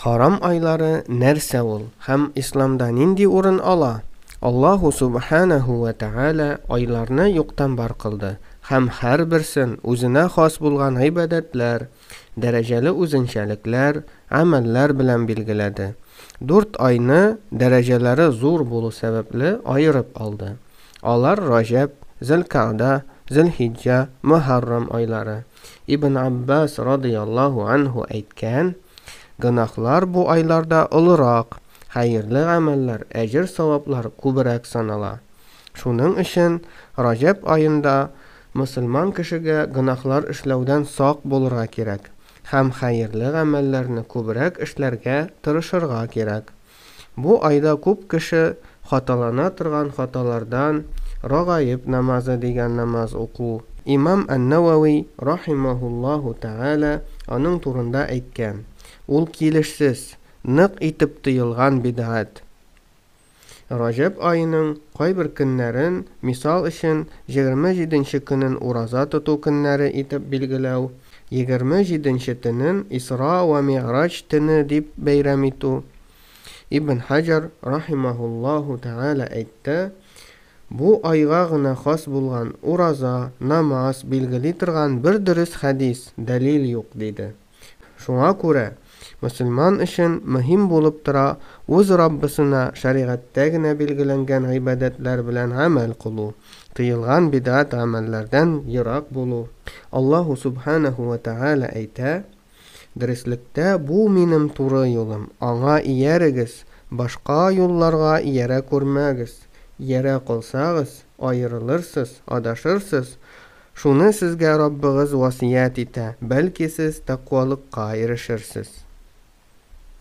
Харам айлары нәрсә ул һәм исламда нинди урын ала? Аллаһу субханәһу вә тәгалә айларны юктан бар кылды һәм һәрберсен үзенә хас булган гыйбадәтләр, дәрәҗәле үзенчәлекләр, гамәлләр белән билгеләде. Дүрт айны дәрәҗәләре зур булу сәбәпле аерып алды. Алар Раҗәб, Зелкагъда, Зелхиҗҗа, Мөхәррам айлары. Ибн Аббас радыйаллаһу анһу әйткән, Гөнаһлар бу айларда олырак, хәерле гамәлләр, әҗер-саваплар күбрәк санала. Шуның өчен Раҗәб аенда мөселман кешегә гөнаһлар эшләүдән сак булырга кирәк һәм хәерле гамәлләрне күбрәк эшләргә тырышырга кирәк. Бу айда күп кеше хаталана торган хаталардан, Рагаиб намазы дигән намаз уку. Имам Ан-Нәвәви рахимаһуллаһу тәгалә аның турында әйткән, Ул килешсез, нык итеп тыелган бидгать. Раҗәб аеның кайбер көннәрен, мисал өчен, җегерме җиденче көнен ураза тоту көннәре итеп билгеләү, Егерме җиденче төнен Исра вә Мигъраҗ төне дип бәйрәм итү, Ибн Хаҗәр рахимаһуллаһу тәгалә әйтте, Бу айга гына хас булган ураза, намаз билгели торган бер дөрес хәдис, дәлил юк, диде. Шуңа күрә Мөселман өчен мөһим булып тора үз Раббысына шәригатьтә генә билгеләнгән гыйбадәтләр белән гамәл кылу, тыелган бидгать гамәлләрдән ерак булу. Аллаһу Сүбхәнәһү вә Тәгалә әйтә, Дөреслектә бу Минем туры юлым, аңа иярегез, башка юлларга иярә күрмәгез, иярә калсагыз, аерылырсыз, адашырсыз, Шуны сезгә Раббыгыз васыять итә, бәлки сез тәкъвалыкка ирешерсез.